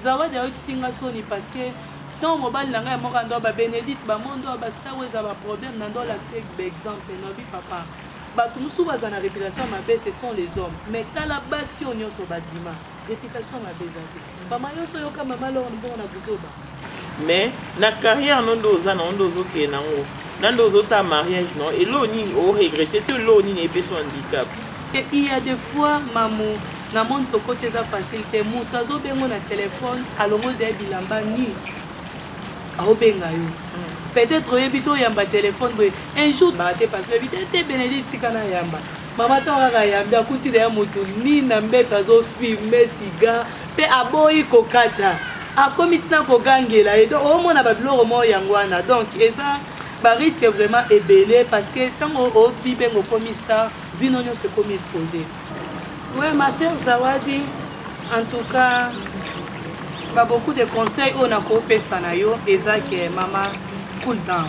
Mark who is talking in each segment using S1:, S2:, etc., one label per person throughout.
S1: Zawadi ayokisi nga soni parce que ntango mobali na ngai ya moka ndo ba benedite ba mondo ba star oyo eza ba problème na ndo olakisa ba exemple na bi papa bato mosusu baza na réputation mabe ce sont les hommes mais tala basi oyo nyonso badima réputation mabe eza te mama nyonso oyoka mama lor mbongo na buzoba Mais
S2: na carrière no nde oza na yo nde ozo kende na ngo na nde ozo ta mariage na yo eloko nini o regrette to eloko nini epesi yo handicap Et il y a des
S1: fois mamu na monde tokoti eza facile te moto azobengo na telefone alongoli deya bilamba nu aobenga yo peut-être oyebi te oyamba telefone boye un jour baa te parce que oyebi te te benedite tika nayamba Mama tango kaka ayambi akuti na ye moto nini na mbeto azo filme siga mpe aboyi kokata akomi ntina kogangela ye donc omona babiloko moko yango wana donc eza bariske vraiment ebele parce que ntango obibenga okomi star vino nyonso ekomi expose we ma sœur zawadi en tout cas ba beaucoup de conseils oyo nakopesa na yo eza ke mama cool down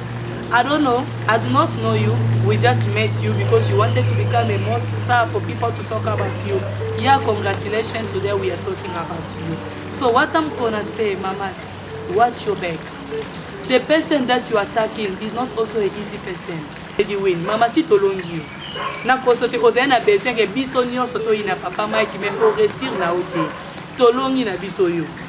S1: I don't know, I do not know you, we just met you because you wanted to become a most star for people to talk about you. Yeah, congratulations, today we are talking about you. So what I'm gonna say, Mama, watch your back. The person that you are attacking is not also an easy person. Lady Win, Mama, si tolongi yo. nakoso te ozali na besoin ke biso nyonso toyina papa mike me oresir na yo te tolongi na biso yo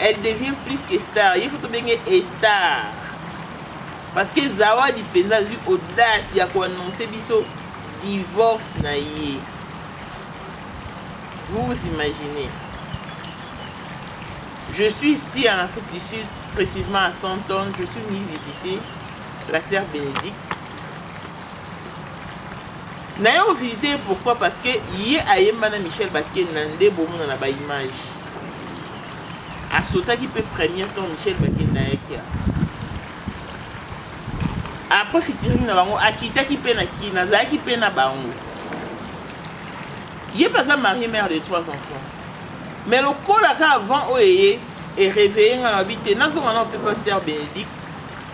S2: Elle devient plus que star. Il faut to benge e star. Parce que Zawadi penza azwi audace ya ko annoncer biso divorce na ye. Vous vous imaginez Je suis ici en Afrique du Sud, précisément à Santon. Je suis venu visiter la sœur Bénédicte. naye ovisite ye pourquoi parce que ye ayembana michel bakenda nde bomonana baimage A sautaki pe première quand Michel Bakenda ayaki awa. A profitiraki na bango, a kitaki pe na Kin, azalaki pe na bango. Ye pe aza marie mère de trois enfants. Mais lokola ka avant oyo eye, e reveiller nga na lobi te, nazonga nao pe Pasteur Benedict.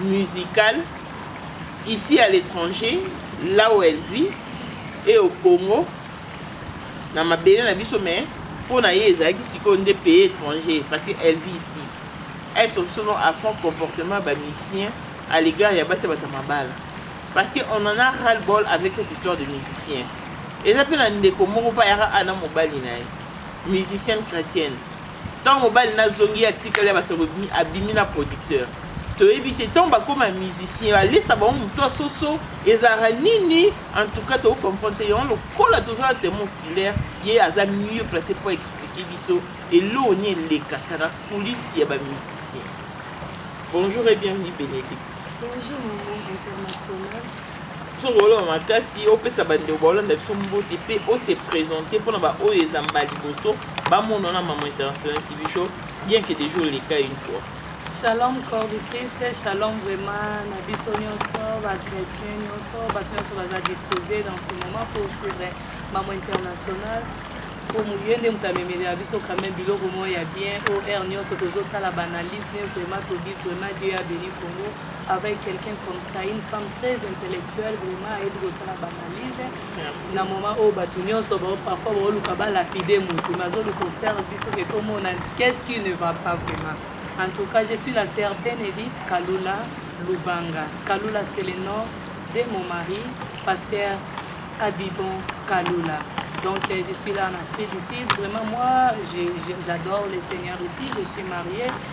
S2: musicale ici à l'etranger là où elle vit et au Congo na mabele na biso mais mpo na ye ezalaki sikoyo nde pays étranger parce que elle vit ici elle soupçonne à fond comportement ba musicien à l'égard ya basi bata mabala parce que on en a ras le bol avec cette histoire de musicien eza mpe na ndeko moko mpe ayaka ana mobali na ye musicienne chrétienne Tango mobali n'a zongi atikali ya basango ebimi abimi n'a producteur toyebi te tango bakoma musicien alesa bango moto ya soso ezalaka nini en tout cas toko comprendre te yango lokola toza na temo oculaire ye aza mieux place mpo expliquer biso eloko ni elekaka na coulisse ya bamusicien bonjour et bienvenue bénédicte bonjour maman
S1: international Soki
S2: oloba makasi, opesa bandeko baolanda biso mbote mpe ose presenter mpo na baoyo eza mbala liboso bamona na Maman International TV Show, bien que dejà oleka une fois. Shalom corps
S1: du Christ, shalom vraiment na biso nyonso ba chrétiens nyonso bato nyonso baza disposé dans ce moment pour suivre Maman International mpo ye nde moto amemelela biso quand même biloko moko ya bien o heure nyonso tozotala banalyse ne vraiment tobi vraiment Dieu ya béni Congo avec quelqu'un comme ça une femme très intellectuelle vraiment ayebi kosala baanalyse na moment oyo bato nyonso parfois baoluka balapide motu mais azoluka ofaire biso ke tomona qu'est ce qui ne va pas vraiment en tout cas je suis la sœur benedite kalula lubanga kalula c'est le nom de mon mari pasteur abibon kalula donc euh, je suis là en afrique du sud vraiment moi j'adore le seigneur ici je suis mariée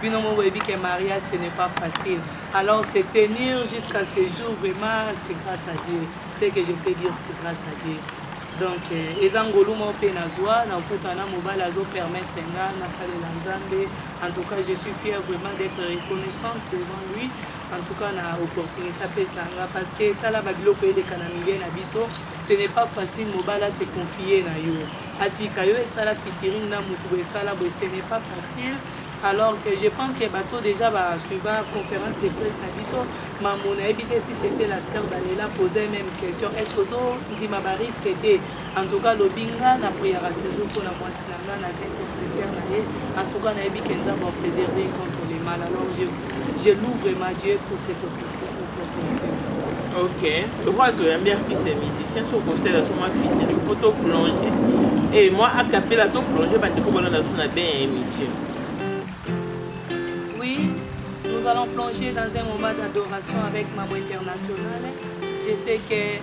S1: bino moko boyebi ke maria ce n'est pas facile alors se tenir jusqu'à ce jour vraiment c'est grâce à dieu ce que je peux dire c'est grâce à dieu donc euh, eza ngolu moko mpe nazwa nakuta na mobali azopermettre nga nasalela nzambe en tout cas je suis fière vraiment d'être reconnaissante devant lui en tout cas na opportunité apesa nga parce que tala babiloko eleka na milieu na biso ce n'est pas facile mobali ase confie na yo atika yo esala fitiring na motu boye esala boye ce n'est pas facile alors que je pense que bato dejà ba suiva conférence de presse na biso mamo nayebi te si c'était la star daniela posa même question est ce que ozondima barisque te en tout cas lobi nga na priara toujours mpona mwasi na nga naza intercessaire na ye en tout cas nayebi ke nzambe apréserve contre le mal alors je, je loue vraiment dieu pour cette opportunité
S2: ok lokola toyambi artiste ya musicien so okosala so mwa fitini mpo to plonge e mwa akapela to plonge bandeko balanda so na ben ya émission oui
S1: nous allons plonger dans un moment d'adoration avec maman internationale je sais que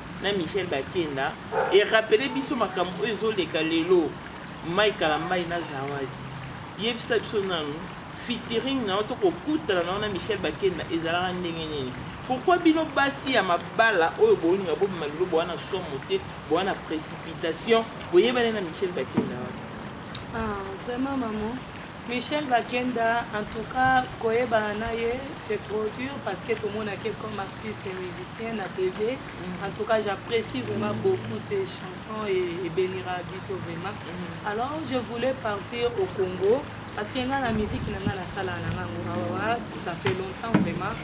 S2: na Michel Bakenda e rappeler biso makambo oyo ezo leka lelo Mike Kalambay na Zawazi yebisa biso nanu featuring na yo to kokutana na yo na Michel Bakenda ezalaka ndenge nini pourquoi bino basi ya mabala oyo bolinga bobima lelo boa na somo te boa na précipitation boyebani na Michel Bakenda wana ah
S1: vraiment maman Michel Bakenda en tout cas koyebana na ye c'est trop dur parce que tomona ke comme artiste et musicien na TV en tout cas j'apprécie vraiment beaucoup ses chansons et, et bénira biso vraiment alors je voulais partir au Congo parce que nga na musique na nga nasala na nga ngo awa ça fait longtemps vraiment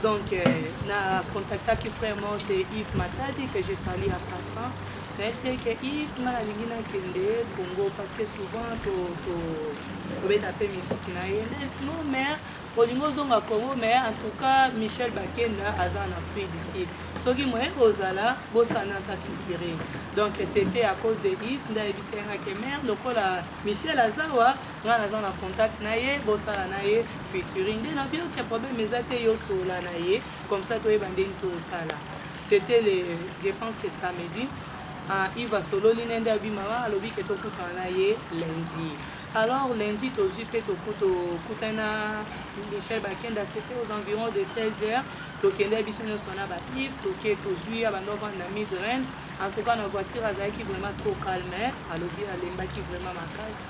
S1: donc euh, na contactaki frère mort c'est Yves Matadi que je salue en passant nayebisi ye ke if nga nalingi nakende congo parce que souvent tobeta mpe miziki na ye nayebisi no mare olingi ozonga congo mais en tout cas michel bakenda aza na fruit du sud soki moye kozala bosana ata fitire donc c'était à cause de if nde ayebisi yanga ke mare lokola michel azawa nga naza na contact na ye bosala na ye futuring nde nabiyoke problème eza te yosola na ye comme ça toyeba ndenge tosala C'etait le je pense que samedi uh, Yves asololi na nde abi mama alobi ke tokutana na ye lundi alors lundi tozwi mpe tokutana na Michel Bakenda c'était aux environs de 16 heures tokende biso nyonso na bapive toke tozwi ya bando avanda na midren en tout cas na voiture azalaki vraiment trop calme alobi alembaki vraiment makasi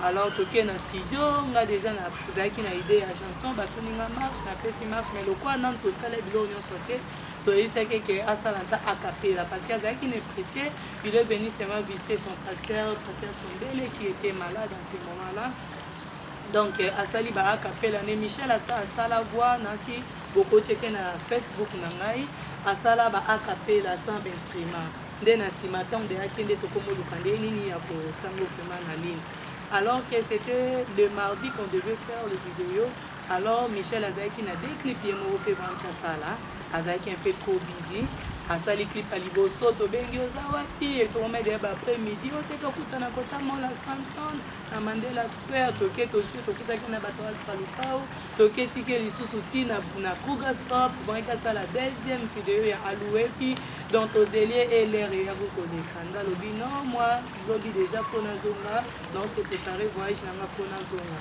S1: alors toke na studio nga déjà nazalaki na idée ya chanson batuninga marche napesi marche mais lokola nanu tosala biloko nyonso te toyebisaki ye ke asala ata acapela parce que azalaki na eprécie il est venu seulement visiter son pasteur pasteur sombele qui était malade en ce moment là donc euh, asali ba acapela ne michel asa asala voix nasi bokotieke na facebook na ngai asala ba acapela sans instrument nde na nsima ntango nde akende tokomoluka nde nini ya kotiango vraiment na ligne alors que c'était le mardi qu'on devait faire le vidéo Alors Michel azalaki na deux clips ye moko pe banki asala azalaki un peu trop busy asali clip ya liboso tobengi oza wapi etomede ya baaprès midi oyo te tokutana kota mola santon na mandela square toke tozwi tokutaki na bato alfa lukau toke tike lisusu ti na, na kruger stop vraki asala deuxième video ya aluepi donc tozelie elere eyaki koleka nga lobi non moi lobi deja mpo nazonga naose prépare voyage na nga mpo nazonga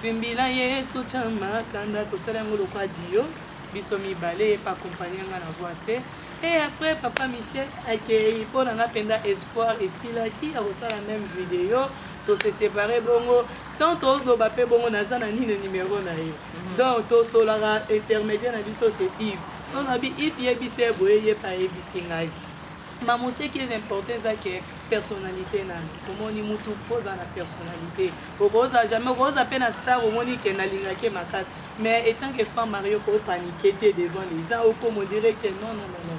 S1: Twimbi na Yesu tya makanda tosala yango lokwa dio biso mibale ye pakompani yanga na voice e après papa michel akei mpo na nga mpenza espoir esilaki ya kosala meme video tose separe bongo tant toloba mpe bongo naza na nini numero na ye mhm. donc tosolaka intermédiaire na biso se ive so nabi ive yebisa ye boye ye mpe ayebisi ngai ma moseki eza important eza ke personnalité nani omoni mutu mpo oza na personnalité Okoza jamais okoza pe na star omoni ken alingaki ye makasi mais etant que femme mariee oko panique te devant les gens oko mo dire que non non non non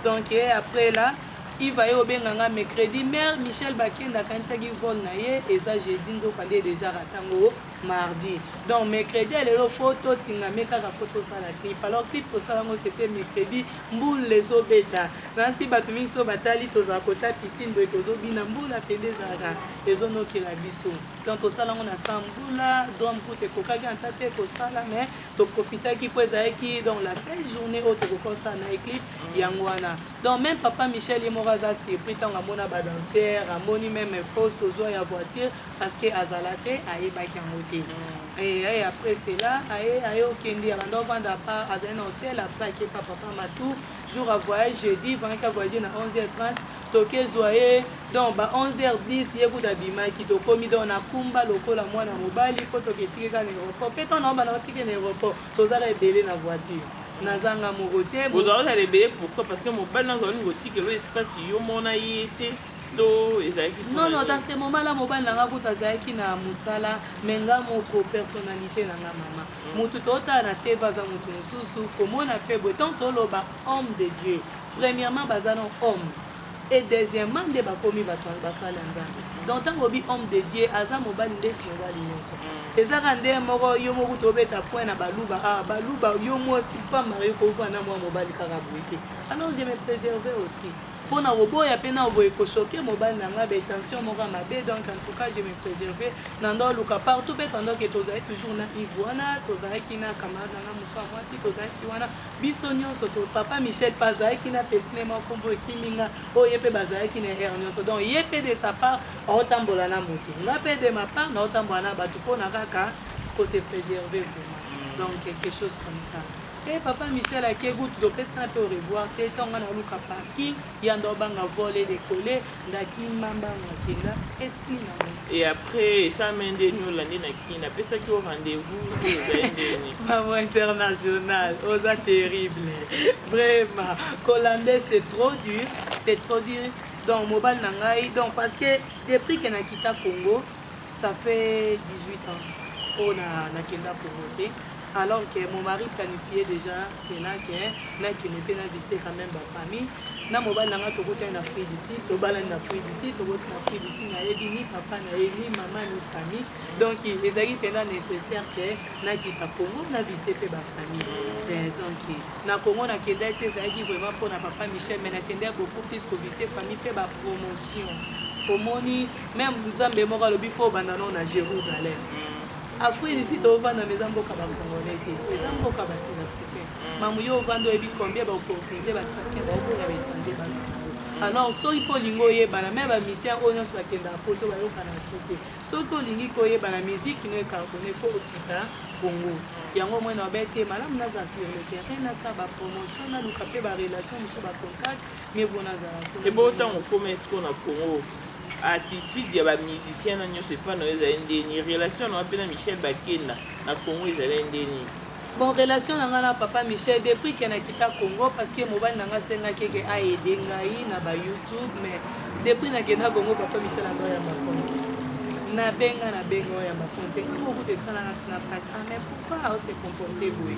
S1: donc et après là Yves aye obenga nga mercredi mère Michel Bakenda akanisaki vol na ye eza jeudi nzoka nde deja ratango mardi donc mercredi ya lelo fo totingame kaka fo tosala clip alors clip tosala ngo c'était mercredi mbula ezobeta nasi bato mingi so batali tozala kota piscine boye tozobina mbula pende ezalaka ezo nokela biso donc tosala yango na sa mbula drum court ekokaki ata te kosala mais toprofitaki mpo ezalaki donc la seule journée oyo tokokosa na eclip yango wana donc même papa michel ye moko aza surpris ntango amona badanser amoni meme pose tozwa ya voiture parce que azala te ayebaki yango te mm. et après cela aye aye okende abanda ovanda pa azali na hotel après akepa papa matou jour a voyage jeudi vraimente a voyage na 11h30 tokezwa ye donc ba 11h10 ye kuta abimaki tokomi donc na kumba lokola mwana mobali mpo toketike kaka na aéroport mpe ntango naobanda otike na aéroport tozala ebele na voiture nazanga moko te ozalazala ebele pourquoi
S2: parce que mobali nazo olingi otikelo espace yo mona ye te to ezalaki
S1: non non dans ce moment là mobali na nga kuta azalaki na mosala me nga moko personnalité na nga mama Mutu totala na TV aza mutu mususu, komona pe boye tango toloba homme de Dieu, premièrement baza no homme et deuxièmement nde bakomi batu basali ya Nzambe. Donc tango olobi homme de Dieu aza mobali ndeti mobali nionso. Eza kaka nde moko yo moko kutu obeta point na baluba ah baluba yo mwasi femme mariee kovanda na mua mobali kaka boye te alors je me preserver aussi. pona koboya pe nao boye ko choque mobali na nga ba intentions moko ya mabe donc en tout cas je me preserver nando aluka partout pe pendant que tozali toujours na Yves wana tozalaki na camarade na nga mosusu ya mwasi tozalaki wana biso nyonso to papa Michel pe azalaki na petit ne mwa kombo ekimi nga oyo ye pe bazalaki na erreur nyonso donc ye pe de sa part aotambola na moto nga pe de ma part naotambola na bato pona kaka ko se preserver vraiment donc quelque chose comme ça He papa Michel ake gout do pesi kana pe au revoir te tango nga na luka parking ya ndo banga vole de colle nda kima mbanga akenda esili na nga et après
S2: esa mende ni olandi na kin na pesaki au rendez-vous te ozali ndeni maman
S1: international oza terrible vraiment kolande c'est trop dur c'est trop dur donc mobali na ngai donc parce que depuis que na kita congo ça fait 18 ans oyo na nakenda congo te alors que mon mari planifie déjà cela que nakende mpe na visite quand même bafamille na mobali na ngai tokotani na afrique du sud tobalani na afrique du sud tokoti na afrique du sud nayebi ni papa na ye ni mama ni famille donc ezalaki mpenza nécessaire ke nakita congo na visite mpe bafamille eh, donc na congo nakendaki te ezalaki vraiment mpo na papa michel mais nakendaki beaucoup plus kovisite famille mpe bapromotion omoni meme nzambe moko alobi fo obanda no na jérusalem Afrique ici tovanda mais eza mboka ba congolais te eza mboka ba sud africain mm. mamu yo ovanda oyebi combien ba opportunité ba sud africain baokoya ba étranger ba alors soki mpo olingi oyebana me bamisien oyo nyonso bakendaka poto bayokana su te soki olingi koyebana miziki no ekartone mpo okita congo yango moi na babe te malamu naza sur le terrain nasala bapromotion naluka mpe barelation mosusu bacontact ebongo ntango okoma
S2: esiko na congo attitude ya ba musicien na nyonso epai na yo ezali nde nini relation na yo mpe na michel bakenda na congo ezali nde nini bon relation
S1: na ngai na papa michel depuis ke nakita congo parce que mobali na ngai asengaki eke aede ngai na ba youtube mais depuis nakenda congo papa michel anga ya makongo nabenga nabenga oyo ya mafonte ntango okuta esalanga ntina mpasi ah mais pourquoi ose comporte boye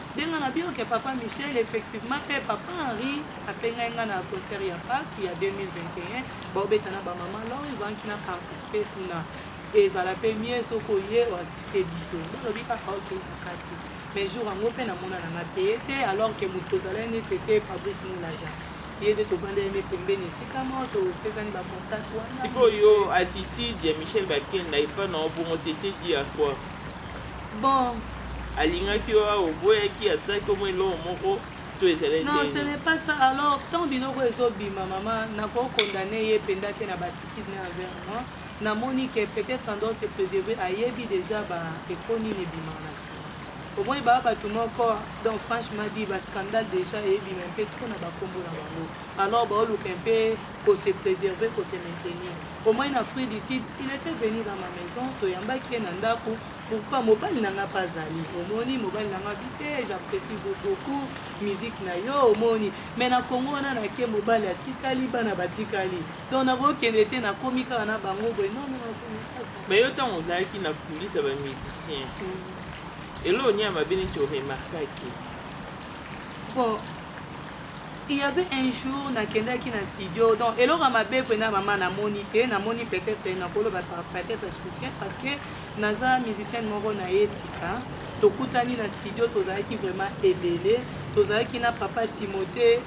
S1: Nde nga na bioke papa Michel effectivement pe papa Henri apengai nga na concert ya Pâques ya 2021 baobeta na ba maman lor ezalaki na participer kuna ezala pe mieux soki oye oassiste biso balobi kaka oke na kati mais jour yango pe namona na nga te te alors que moto ozalai ne c'était Fabrice Moulaja ye nde tobandeli ne pembeni esika moko topesani ba contact wana sikoyo
S2: attitude ya Michel Bakenda epa na obongo c'était dit à quoi Bon.
S1: Alingaki
S2: yo awa oboyaki asalaki omo eloko moko to ezali ndenge. Non, ce n'est pas ça.
S1: Alors, tant biloko ezobima mama, nako condamner ye penda te na batitude na envers moi. Namoni que peut-être en dehors se préserver ayebi déjà ba eko nini ebima na sima. Omoni ba bato moko donc franchement dit ba scandale déjà eyebima mpe trop na bakombo na bango. alors baoluka un peu ko se preserver ko se maintenir au moins na Afrique du Sud il était venu dans ma maison toyambaki ye na ndako pourquoi mobali na nga mpe azali omoni mobali na nga bi te j'apprécie beaucoup musique na yo omoni mais na Congo wana nake mobali atikali bana batikali donc nakokende te nakomi kaka na bango boye non non mais yo ntango ozalaki
S2: na kulisa ba musicien mm. eloo nia mabe neti oremarkaki
S1: bon Il y avait un jour nakendaki na studio donc eloko ya mabe pena mama namoni te namoni peut-être nakoloba peut-être soutien parce que naza musicienne moko na ye sika tokutani na studio tozalaki vraiment ebele tozalaki na papa timote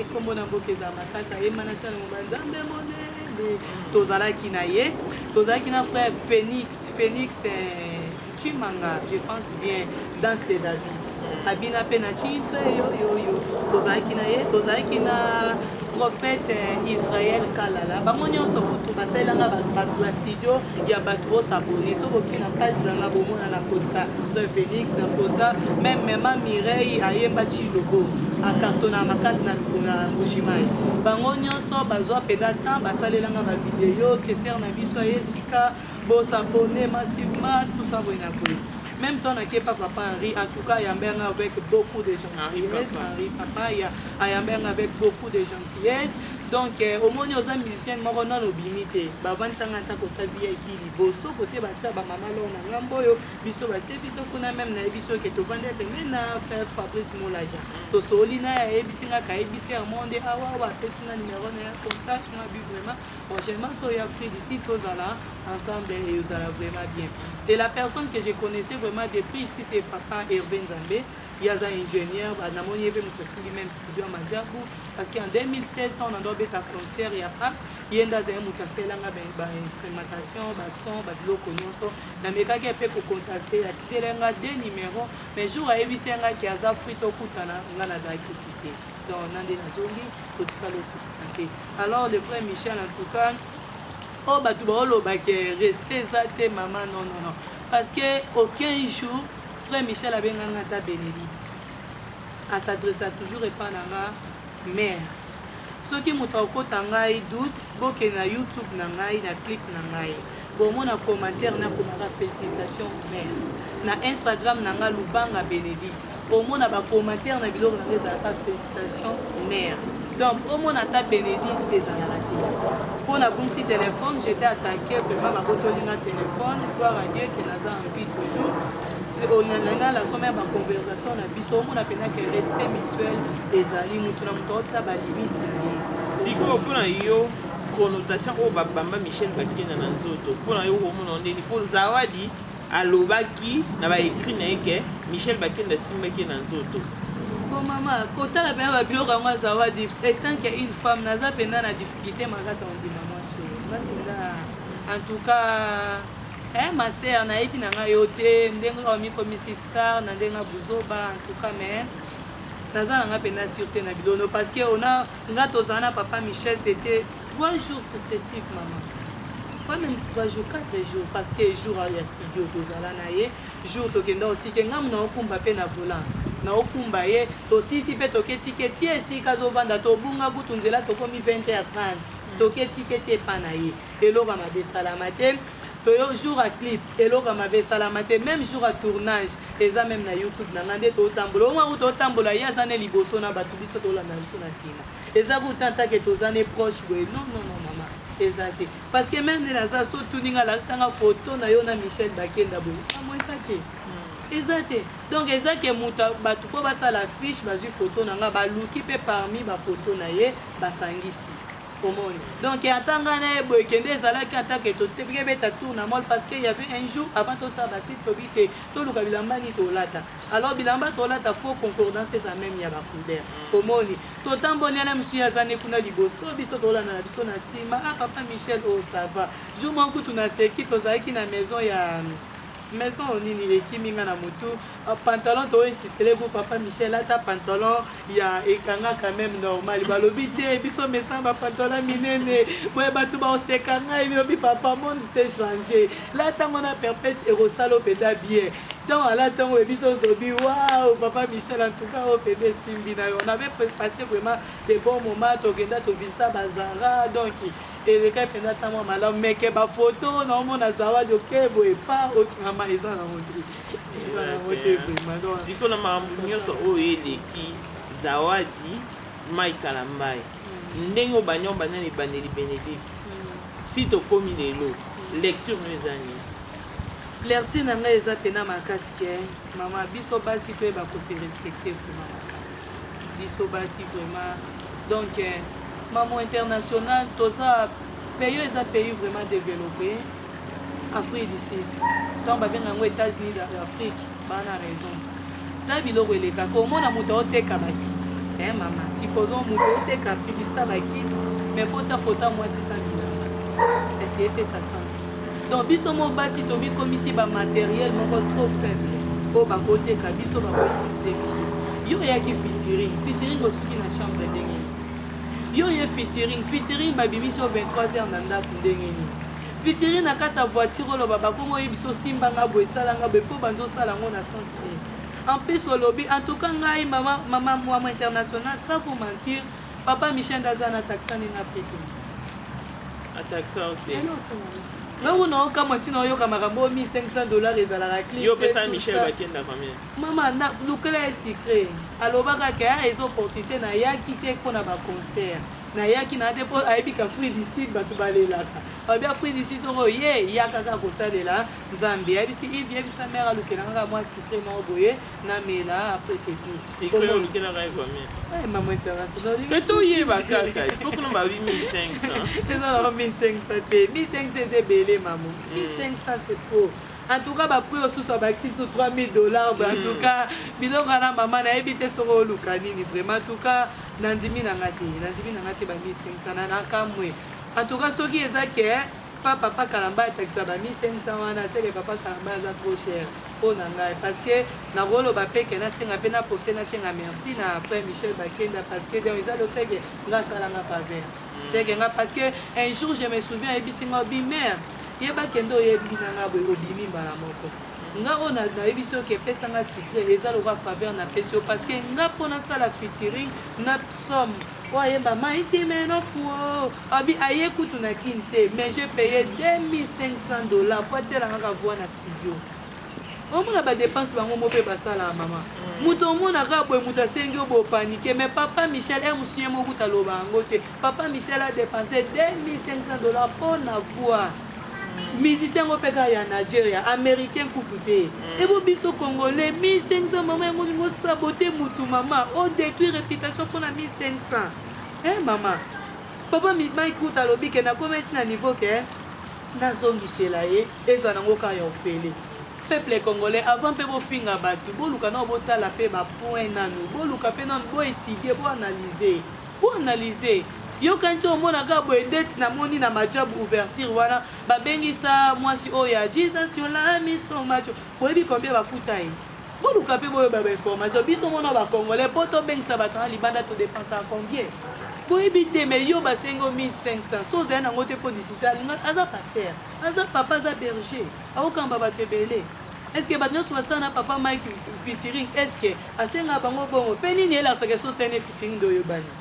S1: nkombo eh, na mboka eza makasi ayemanashana moba nzambe monene tozalaki na ye tozalaki na frère phénix phénix eh, Chimanga, je pense bien, danse de David. Abina pe na chimpe yo yo yo. Tozalaki na ye, tozalaki na prophète eh, Israël Kalala. Bango nyonso kutu basalela nga ba ba studio ya bato bo s'abonner. Soki oki na page na nga bomona na Costa, Frère Felix na Costa, même maman Mireille ayemba Chilobo. akartona makasi na mbujimayi bango nyonso bazwa mpenza temps basalelanga bavideo keser na biso ya esika Bo s'abonner massivement tout ça boye na boye. Même toi na kepa papa Henri, en tout cas ayambanga avec beaucoup de gentillesse. Henri papa ya ayambanga avec beaucoup de gentillesse. Donc euh, omoni oza musicien moko nano obimi te. Bavandisa nga ata kota VIP liboso kote batia ba mama lor na ngambo oyo biso batie biso kuna meme nayebi biso ke tovandi pembeni na frère Fabrice Molaja. Tosoli na ye ayebisi nga kayebisi ya monde awa awa apesi nga numero na ya contact na bi vraiment Prochainement so ya Afrique ici tozala ensemble et ozala vraiment bien. Et la personne que je connaissais vraiment depuis ici c'est papa Hervé Nzambe. Il y a un ingénieur, namoni yebe mutosili même studio Majabu parce qu'en 2016 quand on a donné un concert ya pas yenda za mutasela nga ben ba instrumentation, ba son, ba biloko nyonso. Na mekaki pe ko contacter ya tidelenga des numéros mais jour ayebisi nga ki aza frito kutana nga na za kutite. donc nande nazongi kotika loto ake alors le frère michel en tout cas oyo oh, bato baoloba ke respect eza te mama non non non parce que aucun jour frère michel abenganga ata bénédicte asadressa toujours epa na nga mare soki moto akokota ngai doute bokende na youtube na ngai na clip na ngai Bongo na commentaire na komaka felicitation mère na Instagram na nga Lubanga Benedicte omona ba commentaire na biloko na nga ezalaka felicitation mère donc omona ata Benedicte ezalaka te mpo nabungisi telefone j'étais attaqué vraiment babotoli nga telefone gloire à Dieu que naza en vie toujours onanana la somme ya baconversation na biso omona mpenza ke respect mutuel ezali motu na moto aotisa balimite na ye sikoyo
S2: mpo na yo connotation oyo babamba michel bakenda na nzoto mpo na yo komona yo ndeni mpo zawadi alobaki na baekrit na ye ke michel bakenda asimbaki ye na nzoto bon mama
S1: kotala mpena babiloko yango azawadi etant ke une femme naza mpena na difficulté makasi ya kondima mwasi oyo nga mpenza en tout cas eh, ma sœur nayebi na ngai yo te ndenge kaka omikomisi star na ndenge ya buzoba en tout cas mais naza na ngai mpenza sur te na bilono parce que ona Nga tozala na papa Michel c'était 3 jours successifs maman. Pas même 3 jours, 4 jours parce que jour ya studio tozala na ye, jour tokenda otike nga muna okumba pe na volant. Na okumba ye, tosisi pe toke tike tie esika azovanda tobunga kutu nzela tokomi 20h30. Toke tike tie epa na ye. Eloko mabe esalama te. To yo jour ya clip eloko ya mabe esalama te meme jour ya tournage eza meme na youtube na nga nde to tambola oma kuta otambola ye aza ne liboso na batu biso tolanda biso na sima eza ku tanta ke toza ne proche boye non non non mama eza te parce que meme nde naza so tuni nga lakisa nga photo na yo na Michel Bakenda boye amo eza te hmm. eza te donc eza ke moto bato mpo basala fiche bazwi foto na nga baluki mpe parmi bafoto na ye basangisi omoni donc ata ngai na ye boye kende ezalaki atake tokebeta tour na mall parce que y avait un jour avant tosala batrip tobi te toluka bilamba nini tolata alors bilamba tolata faux concordance eza meme ya bacouleur omoni totamboli yana mosusu ye aza ne kuna liboso biso tolanda na biso na nsima a ah, papa michel o oh, ça va jour moko kutu na seki tozalaki na maison ya maison nini ekimi nga na motu Pantalon to insistele pour papa Michel ata pantalon ya ekanga quand même normal balobi te biso mesa ba pantalon minene boye bato baoseka ngai bilobi papa monde s'est changé la ntango na perpète ekosala opeda bien donc alati yango biso zobi wao papa michel en tout cas oyo pede esimbi na yo on avait passé vraiment des bons moments tokenda tovisita bazara donc eleka mpenza ntango malamu meke bafoto naomona zawadi okeboye pa okingama eza na ondri siko na makambo nyonso
S2: oyo eleki zawadi mai kalambayi hmm. ndenge obandi yango banda na ebandeli benedicte hmm. ti tokomi lelo hmm. lecture no eza nini
S1: lertie na ngai eza mpena makasi ke mama biso basi toyeba kose respecte vrema makasi biso basi vrema donc eh, mamo international toza pays oyo eza pays vraiment développé afrique du sud ntango babenga yango états-unis d'afrique baa na raison ntango biloko eleka komona moto aoteka bakiti e eh, mama supposons moto aoteka publicité ya bakiti mais fo tia foto ya mwasi sambilanga est ce que epesa sens donc biso mo basi tobikomisi bamateriel moko trop faible oyo bakoteka biso bakoutilize biso yo oyaki fitiri fitiri bosuki na chambre ndenge Yo oye featuring, featuring ba bimisi yo 23 heures na ndaku ndenge nini? Featuring na kati ya voiture oloba ba komo oyebisa osimba nga boye sala nga boye po banzo sala ngo na sens nini? En plus olobi en tout cas ngai mama mama mwa international sans vous mentir papa Michel ndaza na taxa ni na pete. Ataxa
S2: ote. Ngai
S1: kuna okamwa ntina oyoka makambo 1500 dollars ezalaka clip. Yo pesa Michel bakenda
S2: combien? Mama na lukela
S1: ye secret. Alobaka ke ah eza opportunite na yaki te pona ba concert. Na yaki na te po ayebi k'Afrique du Sud batu ba lelaka. Alobi Afrique du Sud soki oye yaka kaka ko salela Nzambe. Ayebisi Yves yebisa mère alukela nga kaka mua secret moko boye na mela après c'est tout. Secret olukelaka ye
S2: combien? Eh maman
S1: international
S2: olingi. Pe to yeba kaka po kuna
S1: ba 8500. Eza na 1500 te. 1500 eza ebele maman. 1500 c'est trop. En tout cas ba prix osusu abakisi sous 3000 dollars en tout cas biloko wana mama nayebi te soko oluka nini vraiment en tout cas nandimi na nga te nandimi na nga te bamisengisa na nakamwe en tout cas soki eza ke pa papa kalamba atakisa bamisengisa wana seke papa kalamba aza trop cher mpo na ngai parce que nakoloba mpe ke nasenga mpe naprofite nasenga merci na frère michel bakenda parce que donc eza lotseke nga asalanga faveur seke nga parce que un jour je me souviens ayebisi nga obi mère Yeba ke nde oyebi na nga boye obimi mbala moko nga oyo nayebisi yo ke pesa nga secret eza lokola faveur napesi yo parce que nga mpo nasala featuring na psaume oyo ayemba maiti menofuo abi aye kutu na kin te mais je paye 2500 dollars mpo atielangaka voix na studio Omona ba depense bango mo pe basala ya mama moto omona kaka boye moto asengi yo bopanike mais papa michel e mosuye mo kuta loba yango te papa michel a depense 2500 dollars mpo na voir musicien yango mpe kaka ya nigeria américain kutu te mm. ebo biso congolais 1500 mama yango olingi osabote mutu mama odétruit réputation mpona 1500 e mama papa mike kuta alobi ke nakomaki na niveau ke nazongisela ye Eza nango ka ya ofele. Peuple congolais avant pe bo finga batu boluka nao botala pe ba point nanu boluka pe nanu bo etudie bo analyser bo analyser yo kanti omona ka boye ndeti namoni na majab ouverture wana babengisa mwasi oyo ya jesus yolami so macho boyebi combien bafuta ye boluka pe boyeba ba information biso mona ba congolais po tobengisa bato na libanda todepensaka combien boyebi te me yo basengi o 1500 so ozali nango te mpo disita aza pastere aza papa aza berger akokamba bato ebele eske bato nyonso basala na papa mike fitiring eske asengaka bango bongo mpe nini elasaka esosene fitiring nde oyebani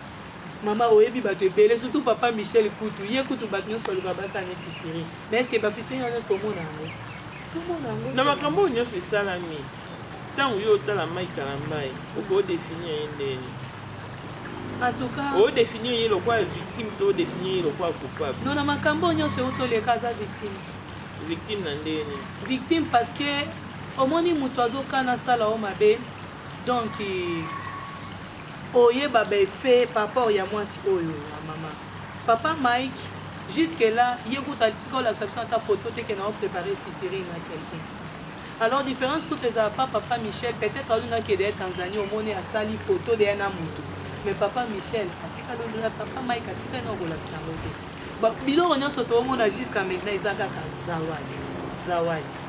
S1: mama oyebi bato ebele surtout papa michel kutu ye kutu bato nyonso balukaka basala ne fitiring mais eske bafitiring nyonso tomona yango tomona yango na makambo oyo nyonso
S2: esalami Tangu yo otala Mike Kalambay, oko o definir ye ndenge En
S1: tout cas, nini? O definir ye lokola
S2: victime to o definir ye lokola coupable? non na makambo oyo nyonso
S1: euti oleka aza victime. Victime na
S2: ndenge nini? Victime parce que
S1: omoni moto azokana asala yo mabe donc oyeba ba effet par rapport ya mwasi oyo ya mama papa mike jusque là ye kutu atika olakisa biso ata photo te ke na oprepare featuring na quelqu'un Alors difference kutu ezala pas papa Michel peut-être aluna que de Tanzanie omoni asali photo de na mutu mais papa Michel atika londela papa Mike atika na kolakisa ngo te ba biloko nyonso toomona jusqu'à maintenant eza kaka zawadi zawadi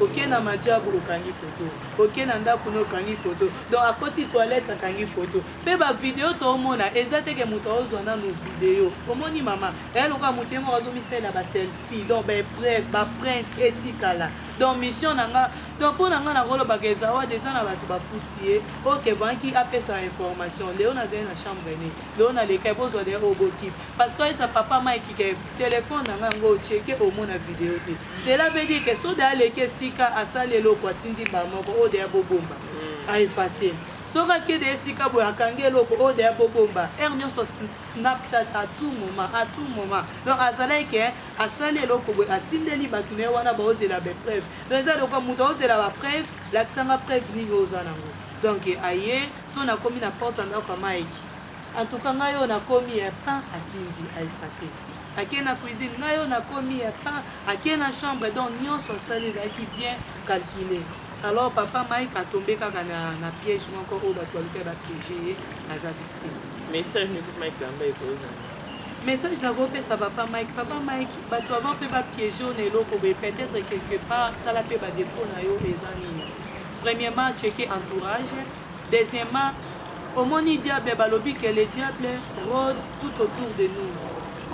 S1: oke na majabu okangi foto oke na ndako na okangi foto donc akoti toilette akangi foto mpe bavideo toomona eza teke moto aozwa nano video omoni mama eya lokola moto ye moko azomisalela baselfie donc baepreuve baprinte etikala donc mission na nga donc mpo na nga nakolobaka ezawadi eza na bato bafuti ye oke banki apesa information leo nazali na chambre ne leo nalekai bozwa de oyo bokipe parce que oyesa papa maikike telefone na nga ngo cheke omona video te cela veut dire ke soda aleki esika asali eloko atindi mbaa moko oyo deya bobomba mm. aefase soki akende esika boye akangi eloko oyo deya bobomba heure nyonso snapchat à tout moment à tout moment donc azalaki ke asali eloko boye atindeli bato na ye wana baozela bapreuve donc eza lokola moto aozela bapreuve lakisanga preuve nini oyo oza nango donc aye so nakomi na porte ya ndako ya mike antuka ngai oyo nakomi ya pain atindi aefase ake na cuisine ngai oyo nakomi ya pain ake na chambre donc nyonso asali ezalaki bien calcule alors papa mike atombe kaka na, na piège moko oyo bato balukai bapiege ye aza victime message nikuti
S2: mike lamba ekozala Message na
S1: ko pesa papa Mike, papa Mike, bato avant pe ba piéger na eloko boye peut-être quelque part tala pe ba défaut na yo eza nini. Premièrement, checker entourage. Deuxièmement, omoni diable balobi que le diable rôde tout autour de nous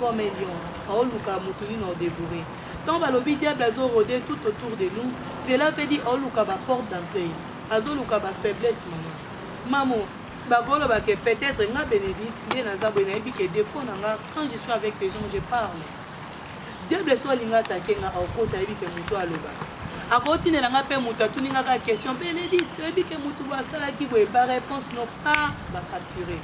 S1: comme un lion. Aoluka moto nini au dévorer. Tant balobi diable azo rôder tout autour de nous, cela veut dire aoluka ba porte d'entrée. Azoluka ba faiblesse maman. Maman, Bakoloba que peut etre nga Benedicte nde naza boye nayebi que defaut na nga quand je suis avec des gens je parle. Diable so alinga atake nga akota ayebi que moto aloba. Akotinela nga pe moto atuni nga ka question Benedicte oyebi que moto bo asalaki boye ba réponse no pas ba capturer.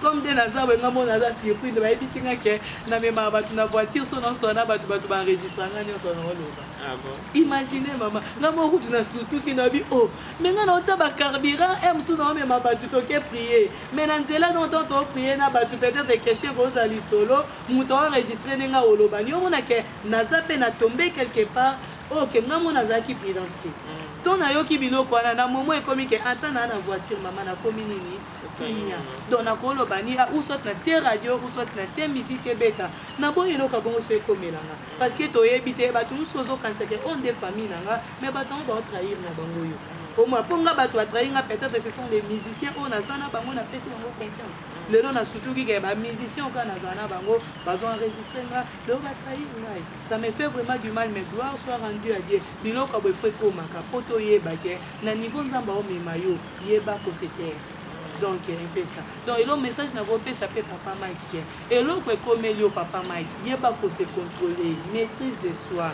S1: comme nde naza boye nga mona aza surprise bayebisi nga ke namemaka bato na voiture so naosona bato bato baenregistra nga nyonso naoloba Ah bon? Imagine mama, nga moko kutu na sutuki na bi oh, mais nga naotia ba carburant e mosusu naomema bato toke prier, mais na nzela no ntango too prier na bato peut-être question ekozala lisolo, moto aoenregistre ndenge aolobani, omona ke naza mpe na tombe quelque part oyo oh, ke nga mo nazalaki prudence te mm. to nayoki biloko wana na momo ekomi ke ata naa na voiture mama nakomi nini kimia donc nakoloba ni ah, ou soit na tie radio ou soit na tie musique ebeta naboyi eloko ya bongo so ekomelanga Parce que toyebi te bato mosusu ozokanisa ke oyo nde famille na nga mais bato yango bao trahir na bango yo omwa mpo nga bato batrahi nga peut-être ce sont des musiciens oyo naza na bango napesi bango confiance lelo nasutuki ke bamusicien oka nazala na bango bazo enregistre nga lelo batrahi ngai ça me fait vraiment du mal mais gloire soit rendu à dieu biloko ya boefo ekomaka mpo toyeba ke na niveau nzambe aomema yo yeba kosetere donc epesa donc elo message nakopesa mpe papa mike Eloko ekomeli yo papa Mike yeba ko se controler maitrise de soi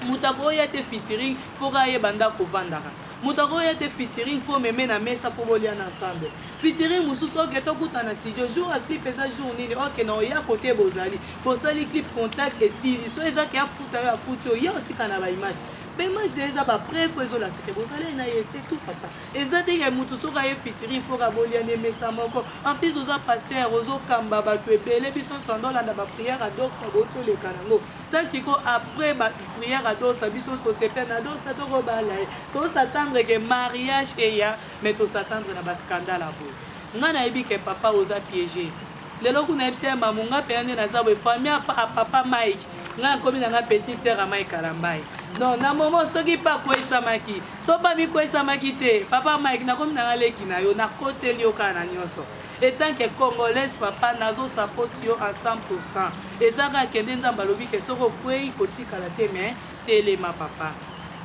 S1: mutu akoya te featuring faut kaka ayeba ndako ovandaka mutu akoya te featuring faut meme na mesa faut bolia na ensemble featuring mususu ok tokuta na studio jour ya clip eza jour nini ok na oya kote bozali bosali clip contact esili so eza ke afuta yo afuti yo ya otika na ba image ba image na eza ba preuve ezolasa ke bozali na ye c'est tout papa Eza ndenge ya mutu soki aye fitiri il faut ka bolia ne mesa moko en plus oza pasteur ozo kamba batu ebele biso nso ando landa ba prière à doxa bo to leka nango ta siko après ba prière à doxa biso to sepela na doxa to ko bala ye to s'attendre que mariage eya mais to s'attendre na ba scandale à boye nga na yebi que papa oza piège Lelo kuna yebisa ya mamu nga pena nde naza boye famille apa a papa Mike nga nakomi na nga petite sœur ya Mike Kalambaye donc na momo soki pa kweisamaki so pa mikweisamaki te papa Mike nakomi na nga leki na yo nakoteli yo kaka na nyonso etant que congolaise papa nazo sapoti yo en 100 eza kaka kende nzambe alobi ke soki okwei kotikala te mais Telema papa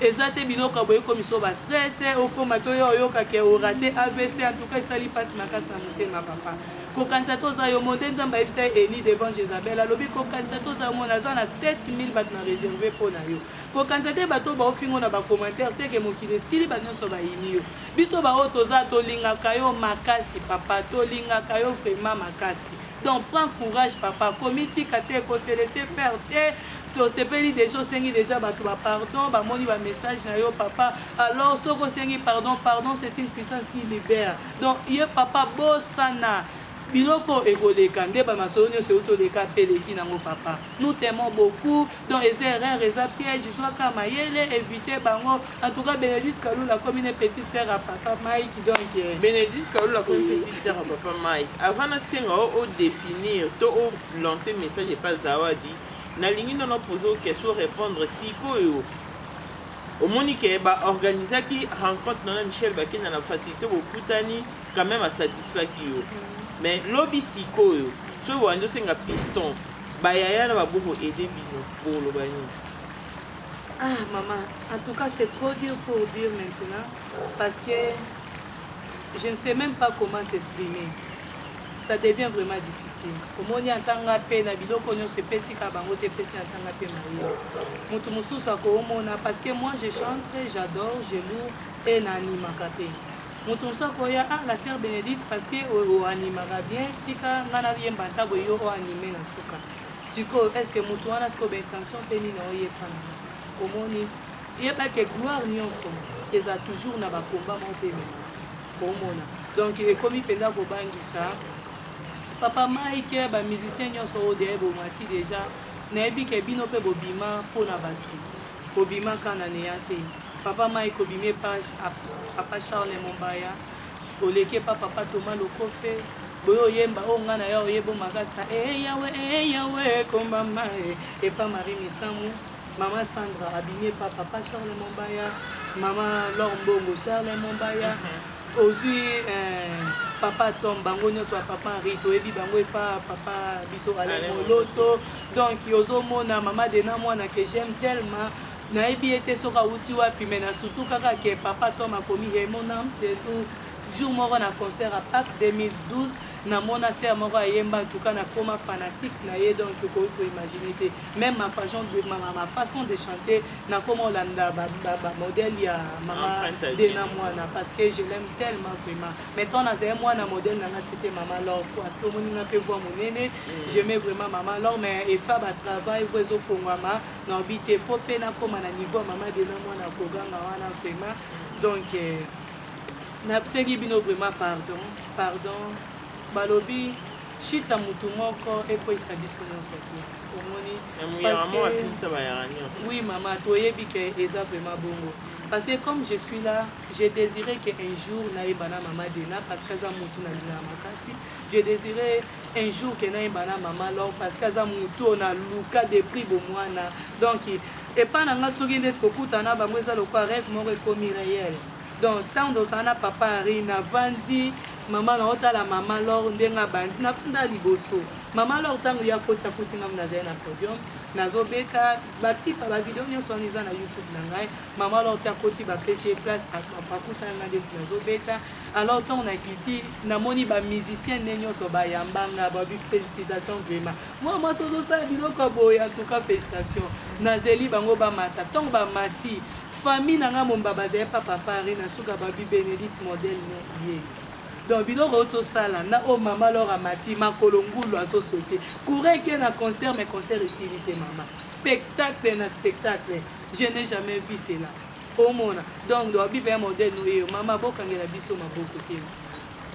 S1: eza te biloko ya boye ekomisa yo ba stress okoma to yo oyoka ke orate avc en tout cas esali mpasi makasi na motema papa kokanisa te oza yo mo nde nzambe ayebisa ye eli devant jezabel alobi kokanisa te oza yo mo naza na 7000 bato na réserve mpo na yo kokanisa te bato oyo baofingo na bacommentaire seke mokili esili bato nyonso bayini yo biso baoyo toza tolingaka yo makasi papa tolingaka yo vraiment makasi donc prends courage papa komitika te koselese faire te tosepeli deja osengi deja bato ba pardon bamoni ba message na yo papa alors soki osengi pardon pardon c'est une puissance qui libère donc ye papa bosana biloko ekoleka nde bamasolo nyonso euti oleka mpe eleki nango papa nous temons beaucoup donc eza erreur eza piège zwaka mayele évite bango en tout cas bénédice kalula akomi ne petite sœur ya papa mike donc eh. bénédice kalula
S2: akomi petite sœur ya papa mike avant nasenga o odefinir to lancer message epa zawadi nalingi nano poser o question repondre sikoyo omoni ke ba organisaki rencontre nana michel bakenda na facilité bokutani quand même asatisfaki yo mm. mais lobi sikoyo soki wandi osenga piston bayaya na babo koaide bino bokoloba nini
S1: ah mama en tout cas c'est trop dur pour dire maintenant parce que je ne sais même pas comment s'exprimer ça devient vraiment difficile omoni ata nga mpe na biloko nyonso epesi kaka bango te epesi ata nga mpe maye moto mosusu akoomona parce que moi je chantre j'adore je lour mpe na animaka mpe moto mosusu akoya ah la sœur bénédicte parce que oanimaka bien tika nga nayemba ata boye yo oanime na suka sikoyo est ce que moto wana sikoyo baintention mpe nini oyepana omoni yeba ke gloire nyonso eza toujours na bakomba moko mpe mema Bomona donc ekomi mpenza kobangisa papa Mike, ba musiciens nyonso oyo deya ebomati deja nayebi ke bino mpe bobima mpo na bato bobima ka na neya te papa Mike obimi epa papa Charles Mombaya oleki epa papa Thomas Lokofe boye oyemba oyo oh, ngai na ya oyebo makasi na ee eh, yawe ee eh, yawe ekombama epa Marie Misamu Maman Sandra abimi epa papa Charles Mombaya, maman Lor Mbongo Charles Mombaya. Mhm. Ozui eh, papa Tom bango nyonso ya papa Henri toyebi bango epa papa biso Alain Moloto. Donc ozomona maman Dena mwana que j'aime tellement nayebi ye te soki awuti wapi mais na surtout kaka ke papa Tom akomi he mon âme te tout jour moko na concert à Pâques 2012 namona sere moko ayemba ntuka nakoma fanatique na ye donc okoki koimagine te même ma façon de, ma, ma, ma façon de chanter nakoma olanda bamodele ya mama ah, dena mwana parce que je l'aime tellement vraiment mais tant nazali mwana modèle nanga c'était mama lor parce que omoni nga mpe voi monene mm. j'aimais vraiment mama lor mais efa batravail vo ezofongwama na obi te fo mpe nakoma na niveau ya mama dena mwana koganga wana vraiment mm. donc eh, nasengi bino vraiment pardon pardon balobi Chute ya mutu moko ekweyisa biso nyonso te omoni oui mama toyebi ke eza vraiment bongo parce que comme je suis là je désiré que un jour nayeba na mama dena parce que aza mutu nalingaka makasi je désiré un jour ke nayeba na mama lor parce que aza mutu oyo naluka de prix bomwana donc epai na nga soki ndeti kokutana bango eza lokola rêve moko ekomi réel Donc tango tozala na papa Henri na vandi maman na otala maman Laure ndenge abandi na vanda liboso maman Laure tango ya koti akuti ngamu nazali na podium nazo beta ba clip ba video nyonso wana eza na YouTube na ngai maman Laure tia koti ba pesi ye place akuta nga nde nazo beta alors tango na kiti namoni ba musiciens ne nyonso ba yamba nga ba bi félicitations vraiment moi moi sozo sala biloko boya en tout cas félicitations nazeli bango bamata tango bamati Famille na nga momba bazali pa papa Henri na suka ba bi Benedicte modèle ne ye donc biloko oyo tosala na oyo mama lor amati makolo ngulu azo saute courant eke na concert mais concert esili te mama spectacle na spectacle je n'ai jamais vu cela omona donc donc bipe ya modèle no yeyo mama bokangela biso maboko te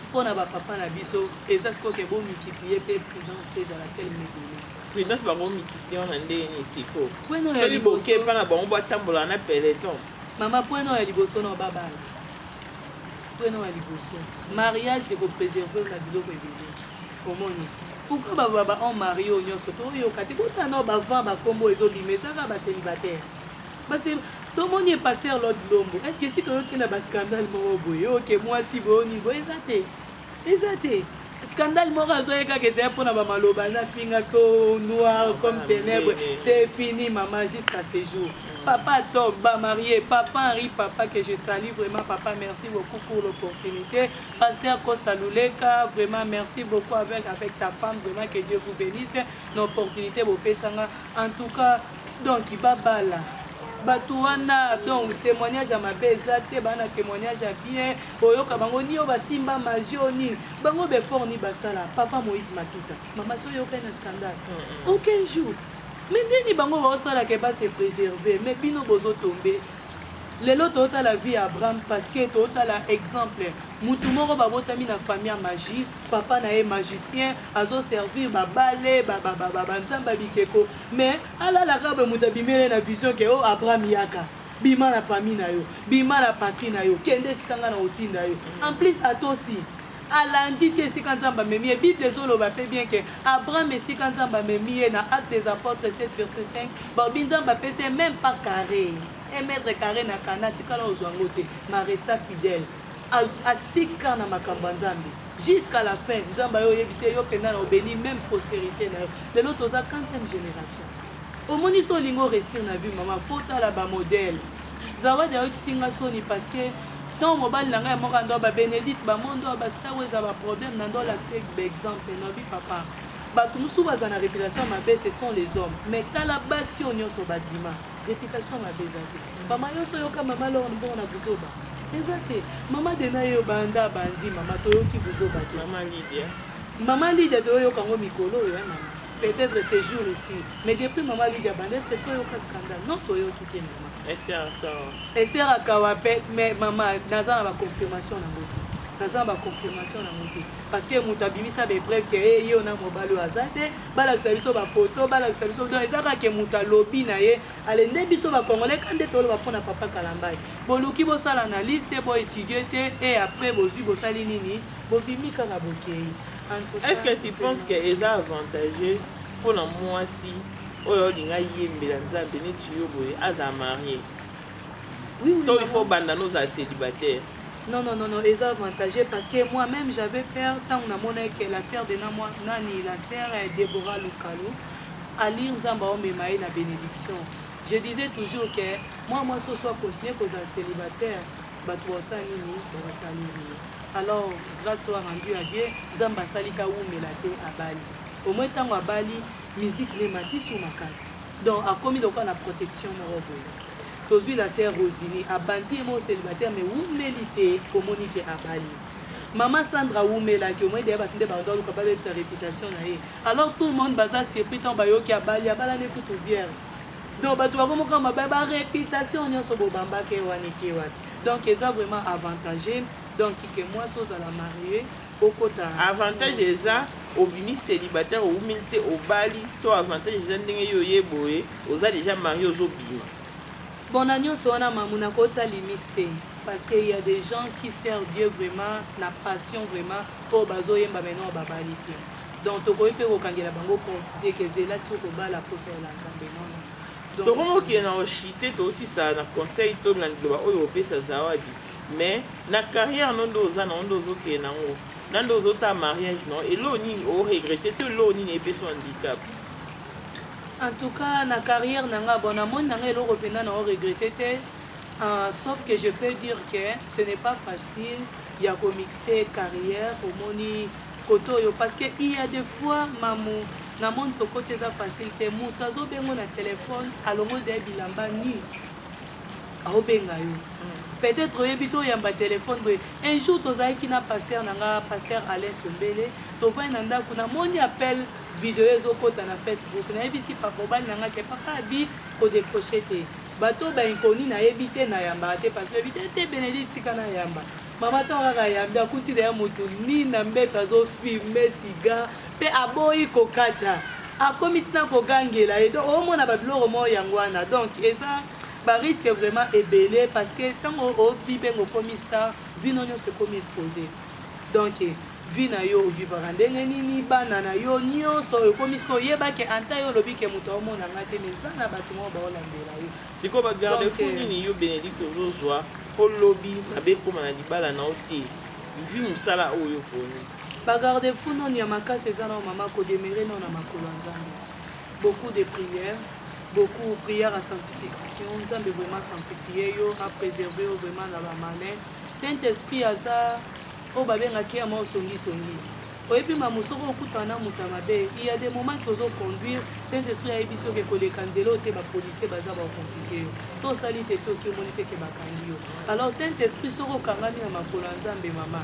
S1: mpo na bapapa na biso eza sikoyo ke bomultiplier mpe prudence mpe ezala tel medele Prudence bango mitikion
S2: na ndenge nini siko soli boke
S1: epa na
S2: bango batambola na peleton mama point oyo ya
S1: liboso na babala point oyo ya liboso mariage ekopreserve na biloko ebele omoni pourquoi baloba ba on marie oyo nyonso toyoka te botana oyo bavant bakombo ezobima ezaka bacelibataire tomoni epaster lord lombo est ce que si toyoki na bascandale moko boye oke mwasi boyoni boye eza te eza te scandale moko azoye kaka ezali mpo na bamaloba nafinga ko noir comme ténèbre c'est fini mama jusqu'à ce jour papa top bamarie papa henri papa que je sali vraiment papa merci beaucoup pour l'opportunité pasteur costa luleka vraiment merci beaucoup avec, avec ta femme vraiment que dieu vous bénisse na opportunité bopesanga en tout cas donc babala bato wana donc témoignage ya mabe eza te bana témoignage ya bien Boyoka bango ni oyo basimba magie oyo nini bango befort ni basala papa moïse matuta mama so oyokani na scandale aucun jour mais ndeni bango baosala ke base préserve mais bino bozotombe lelo totala vie ya abraham parce que totala exemple mutu moko babotami na famille ya magie papa na ye magicien azoservir babale banzambe ya bikeko mais alalaka boye moto abimele na vision ke o oh, abraham yaka Bima na famille na yo, bima na patrie na yo, kende esika nga nako tinda yo. En plus atosi, alandi ti esika Nzambe amemi ye. Bible ezo loba pe bien que Abraham esika Nzambe amemi ye na Actes des Apotres 7 verset 5, balobi Nzambe apesi ye meme pas carre, un mètre carre na Canaan atikala kozua yango te, mais a resta fidèle. A stick kaka na makambo ya Nzambe. Jusqu'à la fin, Nzambe aye oyebisi ye yo penza nao beni meme prosterite na yo. Lelo toza quantième generation. Omoni so olingi o reussir na vie mama faut otala ba modèle. Zawadi ayokisi nga soni parce que ntango mobali na ngai amoko ando ba Benedict ba mondo ba star oyo eza ba problème na ndo lakisa ba exemple na bi papa bato mosusu baza na réputation mabe ce sont les hommes mais tala basi oyo nyonso badima réputation mabe eza te mama nyonso oyoka mama lor mbongo na buzoba eza te mama dena ye obanda bandi mama toyoki buzoba te mama lidia toyoyoka yango mikolo oyo eh, mama Peut etre ce jour ici mais depuis maman Lydia abanda est ce que soyo ka scandale non toyoki te maman. Esther akawa. Esther akawa pe mais maman naza na ba confirmation na boki. naza na baconfirmation na moke parce que moto abimisa baepreuve ke ye eh, yo na mobali oyo aza te balakisa biso bafoto balakisa biso don eza kaka ke moto alobi na ye ale nde biso bacongolais ka nde toloba mpo na papa kalambai boluki bosala analyse te boetudie te e après bozwi bosali nini bobimi kaka bokei Est ce que tu
S2: penses que eza avantageux pona mwasi oyo olinga yembela nzambe neti yo boye azala marie
S1: oui, oui, to il faut banda
S2: nozala célibataire non non non non
S1: eza avantageux parce que moi même j'avais peur ntango namonaki que la sœur de namwa nani la sœur eh, débora lukalo alire nzambe aomema ye na bénédiction je disais toujours que moi mwasi oso acontinue kozala célibataire bato baosala nini bakosaleli ye alors grâce soit rendu à dieu nzambe asali kawumela te abali omoi ntango abali miziki ne emati su makasi donc akomi lokola na protection moko boye tozwi la sœur rosini abandi ye moko célibataire mais wumeli te komoni ke abali mama sandra awumelaki omoi deya bato nde baondo aluka babebisa réputation na ye alors tout le monde baza surpris ntango bayoki abali abalani kutu vierge Donc bato bako moka mabaya ba reputation nyonso bobamba ke wana eke wapi donc eza vraiment avantage donc ke mwasi ozala marie okota avantage eza
S2: obimi célibataire owumili te obali to avantage eza ndenge yo oye boye oza deja marie ozobima bon na
S1: nyonso wana mamu nakotya limite te parce que il y a des gens qui servent Dieu vraiment na passion vraiment oyo bazoyemba maintenant babali te Donc tokoki pe kokangela bango compte te ke zela ti okobala posa ya la nzambe non non Tokomi kokende na
S2: oshite tosisa na conseil to na liloba oyo opesa zawadi mais na carrière no nde oza nango nde ozokende nango na nde ozotala mariage no eloo nini o regrette to eloo nini epesi handicap
S1: en tout cas na carrière na nga bon namoni na nga eloko mpenza na o regrette te Uh, sauf que je peux dire que ce n'est pas facile ya komixe carrière omoni kote oyo parce que il ya des fois mamu na monde tokoti eza facile te moto azobengo na telefone alongoli deya bilamba nu aobenga yo mm. peut-être oyebi toyamba telefone boye un jour tozalaki na paster na nga paster alain sombele tovai na ndako namoni appel video ezokota na facebook nayebisi papa obali na nga ke papa abi kodecroche te bato bainconnu nayebi te nayambaka te parce que oyebi te te benedicte tika nayamba Maman tango kaka ayambi akuti na ye moto nini na mbeto azo filme siga mpe aboyi kokata akomi ntina kogangela ye donc omona babiloko moko yango wana donc eza bariske vraiment ebele parce que ntango obibenga okomi star vino nyonso ekomi expose donc vie na yo ovivaka ndenge nini bana na yo nyonso ekomi sika oyeba ke anta yo olobi ke moto aomona nga te mais eza na bato moko baolandela yo Siko ba garde fou
S2: euh, nini yo Benedicte ozozwa po lobi mabe ekoma na libala na yo te vi mosala oyo oponi bagarde
S1: fou noni ya makasi eza nao mama kodemere nao na makolo ya nzambe beaucoup de prière beaucoup prière ya sanctification nzambe vraiment sanctifie yo apréserve yo vraiment na bamalin saint esprit aza oyo babengaki ya mao songisongi Oyebi mamu soki okutana na moto ya mabe il ya des moments que ozo conduire saint esprit ayebisi yo ke koleka nzela oyo te ba policiers baza ba complique yo so osali te ti oki omoni te ke bakangi yo alors saint esprit soki okangami na makolo ya nzambe mama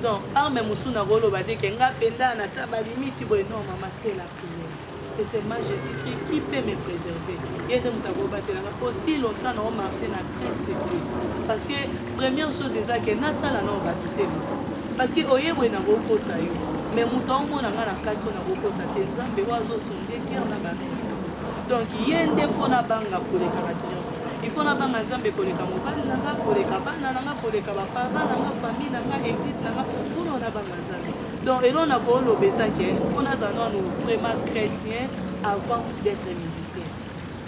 S1: donc arme mosusu nakoloba te ke nga penda na tia ba limite boye non mama sela prière c'est seulement Jésus-Christ qui peut me préserver. Ye nde moto akobatelanga aussi longtemps nao marché na crainte de Dieu. Parce que première chose eza ke natala nao bato te parce que oye boye nakokosa yo mais moto aomona nga na kati oyo nakokosa te nzambe oyo azosonde kere na bato nyonso donc ye nde mpo nabanga koleka bato nyonso ifo nabanga nzambe koleka mobali na nga koleka bana na nga koleka bapapa na nga famille na nga eglise na nga mpo na nabanga nzambe Donc eloko na ko loba eza ke faut nazala nanu vraiment chrétien avant d'être musicien.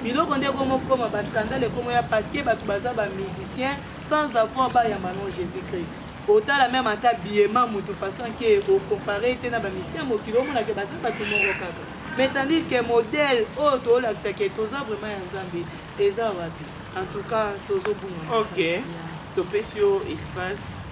S1: Biloko nde ekomi kokoma ba scandale ekomi ya parce que bato baza ba musicien sans avoir bayamba no Jésus Christ. Otala meme ata biyema moto façon ke ocompare te na ba musicien mokili omona ke baza bato moko kaka. Mais tandis que modèle oyo oh, tolakisa ke toza vraiment ya Nzambe eza wapi? En tout cas tozobunga. OK.
S2: Topesi yo espace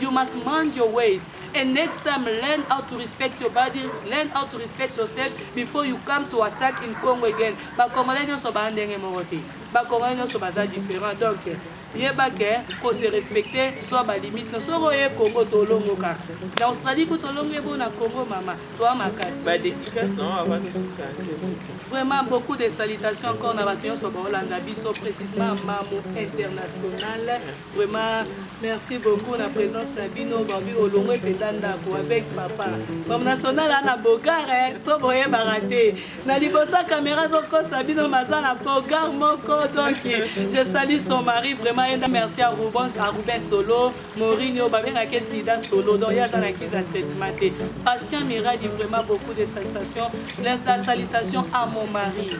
S1: You must mind your ways and next time learn how to respect your body, learn how to respect yourself before you come to attack in Congo again. Ba Congolais nyonso ba ndenge moko te. Ba Congolais nyonso baza différent donc yeba ke ko se respecter zwa ba limite na soko ye Congo tolongo kaka na Australie ko tolongo ebo na Congo mama toi makasi ba dédicace na
S2: avant de vraiment
S1: beaucoup de salutations encore na bato nyonso baolanda biso précisément mamu internationale Vraiment, merci beaucoup na présence na bino babi olongo ebenda ndako avec papa bam national ana bogar so boyebaka te na liboso caméra azokosa bino maza na bogar moko donc je sali son mari vraiment yenda merci à ruben à ruben solo morinio babengaki sida solo donc ye aza na kiza traitement te patient miradi vraiment beaucoup de salutations la salutation à mon mari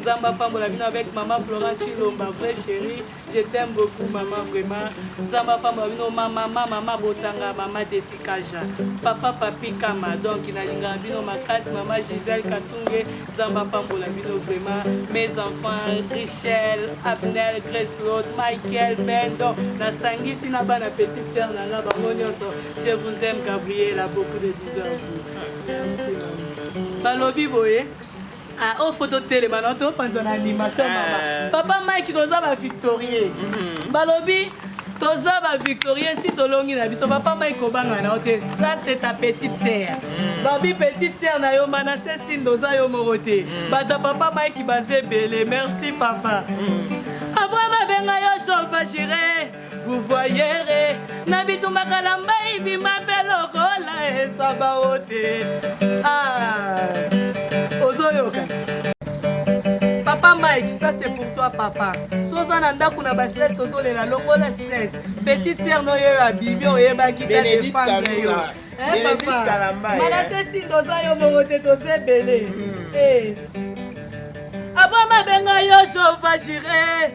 S1: nzambe apambola bino avec mama florent chilomba vrai chéri je t'aime beaucoup mama vraiment nzambe apambola bino mamama mama botanga mama detikaja papa papi kama donc nalingaka bino makasi mama gisele katunge nzambe apambola bino vraiment mes enfants richel abnel greslot michael bendo nasangisi na bana petite sœur na nga bango nyonso je vous aime gabriela beaucoup de bisous à vous balobi boye Ah, oh, photo telema na to panza na animation ah. mama. Papa Mike toza ba victorieux. Mhm. Balobi toza ba victorieux si tolongi na biso papa Mike kobanga na te. Ça c'est ta petite sœur. Mhm. Babi petite sœur na yo mana se sindo za yo morote. Mhm. Bata papa Mike baze belé. Merci papa. Après ma benga yo chauffeur guvoyere na bitumba kalamba ibima mpe lokola esaba ote ah, ozoyoka papa mike ça c'est pour toi papa so oza na ndako na bastress ozolela longola stress petite sere noyo ya bibi oyebaki te defendre yo manase sinda oza yo moko te toza ebele hmm. eh. abwa mabenga yo jova jure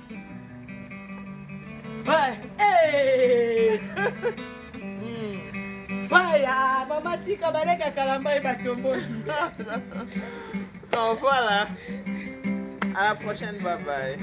S1: Baya, mama tika baleka kalamba ebatomboli.
S2: Donc voilà. À la prochaine, bye bye.